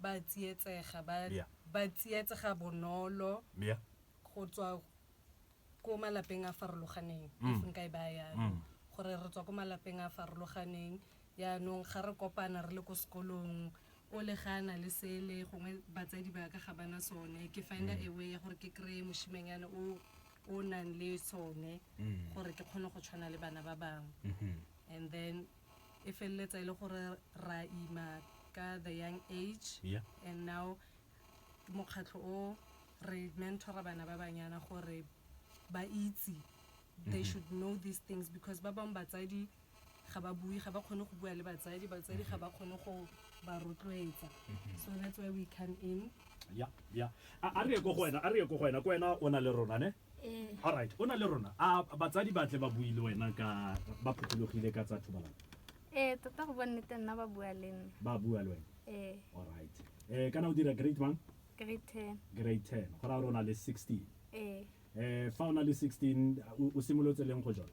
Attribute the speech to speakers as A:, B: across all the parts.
A: ba tsietsega, ba, Yeah. ba tsietsega bonolo Yeah.
B: go tswa
A: ko malapeng a farologaneng Mm. if nka e baya yalo Mm. gore re tswa ko malapeng a farologaneng yaanong ga re kopana re le ko sekolong o le ga a na le sele gongwe batsadi ba ka ga bana sone ke finder Mm. a way ya gore ke kry-e moshimanyane o o nang le sone Mm. gore ke kgone go tshwana le bana ba bangwe Mhm. and then e feleletsa e le gore ra ima ka the young age Yeah. and now mokgatlho o re mentora bana ba banyana gore ba itse they should know these things because ba bangwe batsadi ga ba bue ga ba kgone go bua le batsadi batsadi ga ba kgone go ba rotloetsa so that's why we come in ya ya
B: a a re ye ko go wena a re ye ko go wena ko wena o na le rona ne ee alright o na le rona a batsadi ba tle ba bue le wena ka ba phothulogile ka tsa thobalano ee tota go bonnete
C: nna ba bua le nna ba bua le wena ee
B: alright eh kana o dira grade mang grade ten
C: grade 10 go raya gore
B: o na le 16 ee eh fa o na le 16 o- o simolotse leng go jona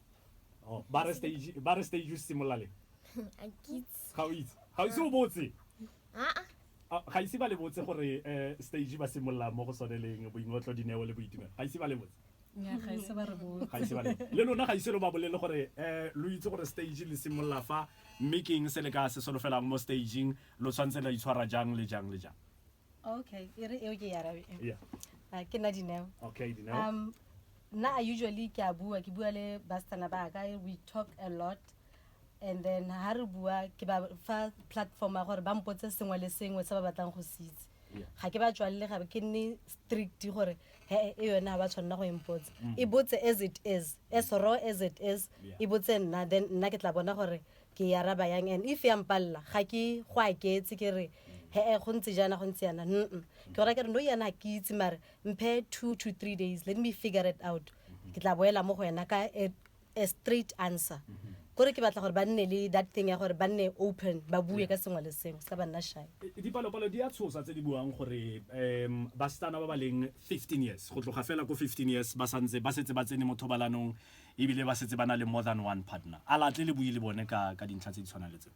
B: Oh, ba re stage ba re stage o simolola le a
D: kitse ga o itse ga o ise
B: o botse aa Ah, ga ise ba le botse gore eh, stage ba simolola mo go sone leng boingotlo dineo le boitumelo ga ise ba le botse nya
A: ga ise ba re botse ga ise ba le le lona
B: ga ise lo ba bolele gore eh lo itse gore stage le simolola fa mme ke eng se le ka se solofelang mo stageng lo tshwanetse la itshwara jang le jang le jang okay
E: e re eo ke e arabe e. Yeah. Ah, ke
B: nna dineo
E: Okay, Dineo. um
B: nna i
E: usually ke a bua ke bua le bastana ba ka we talk a lot and then ha re bua ke ba fa platform ya gore ba mpotse sengwe le sengwe se ba batlang go se itse Yeah. ga ke ba tswalele gabe ke nne strict gore he e yone ga ba tshwanela go empotsa e botse as it is as raw as it is Mm. Yeah. e botse nna then nna ke tla bona gore ke ya araba yang and if ya mpalela ga ke go aketse ke re he-e go ntse jaana go ntse yana mm ke gora ke re no yana ga ke itse mare mphe two to three days let me figure it out ke tla boela mo go wena ka a, a straight answer kore ke batla gore ba nne le that thing ya gore ba nne open ba bue ka sengwe le sengwe se ka ba nna shy E- dipalopalo di a
B: tshosa tse di buang gore um basetsana ba ba leng 15 years go tloga fela ko 15 years ba santse ba setse ba tsene mo thobalanong ebile ba setse ba na le more than one partner a latle le bue le bone ka ka dintlha tse di tshwanang le tseo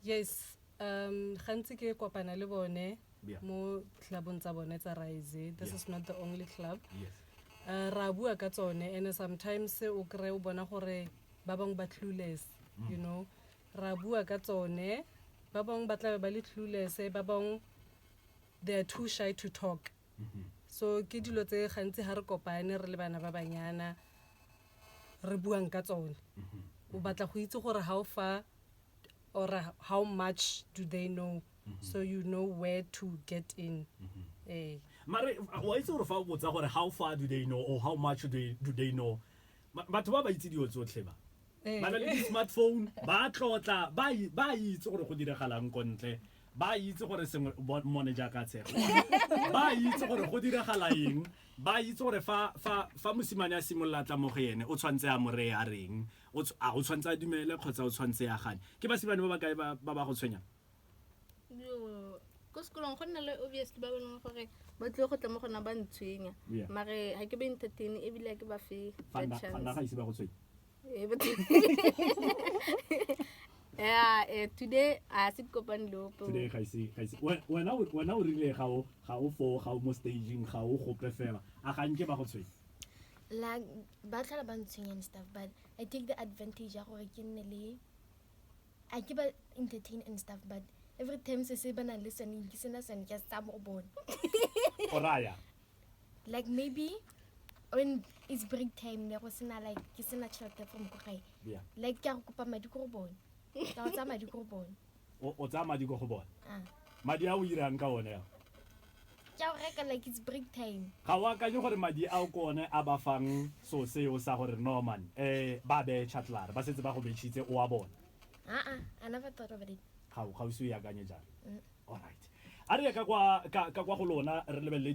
B: yes
A: um gantsi ke kopana le bone mo clubong tsa bone tsa rise this is not the only club yes. uh,
B: ra bua
A: ka tsone and sometimes o kry o bona gore ba bangwe ba clueless mm. you know ra bua ka tsone ba bangwe ba tlabe ba le clueless ba bangwe they are too shy to talk so ke dilo tse gantsi ga re kopane re le bana ba banyana re buang ka tsone o batla go itse gore how far or how much do they know so you know where to get in eh
B: mare wa itse gore fa o botsa gore how far do they know or how much do they, do they know Ba- batho ba ba itse dilo tsotlhe ba eh. ba na le di-smartphone ba tlotla ba i- ba itse gore go diragalang ko ntle ba a itse gore sengwe bo- mmone jaaka a tshega ba a itse gore go diragala eng ba a itse gore fa fa fa mosimane a simolola a tla mo go ene o tshwanetse a mo reye a reng O tsh- a o tshwanetse a dumele kgotsa o tshwanetse a gane ke basimane ba ba kae ba ba ba go tshwenyang Yo,
C: ko sekolong go nna le obviously ba bone gore ba tlile go tla mo gona ba ntshwenya Yeah. mare ga ke ba entertain ebile ga ke ba fe fa that nna- fa nna chance ga ise ba go tshwenya Eh, but- yeah, eh, today a se kopane le ope today ga ise ga ise
B: we- wena o- wena o rile ga o ga o foo ga o mo staging ga o gope fela a ga nke ba go tshwenya la
D: ba tlhola ba ntshwenya and stuff but i take the advantage ya gore ke nne le a ke ba entertain and stuff but every time se se ba nang le sone ke sena sone ke sa mo bone go raya like maybe when it's break time ne go sena like ke sena tšhelete from ko gae Yeah. like ke a go kopa
B: madi
D: ko go bone ka go tsaya madi ko go bone o o tsaya madi
B: ko go bone Ah. madi a
D: o irang
B: ka one ao ke a go
D: reka like it's break time ga o akanye gore madi
B: ao ko one a ba fang so seo sa gore norman um ba beye chatlare ba setse ba go betšhitse o a bone aa i never
D: thought of it ga o ga o se o e akanye
B: jalo Mm. alright a re ye ka kwa ka- ka kwa go lona re lebelele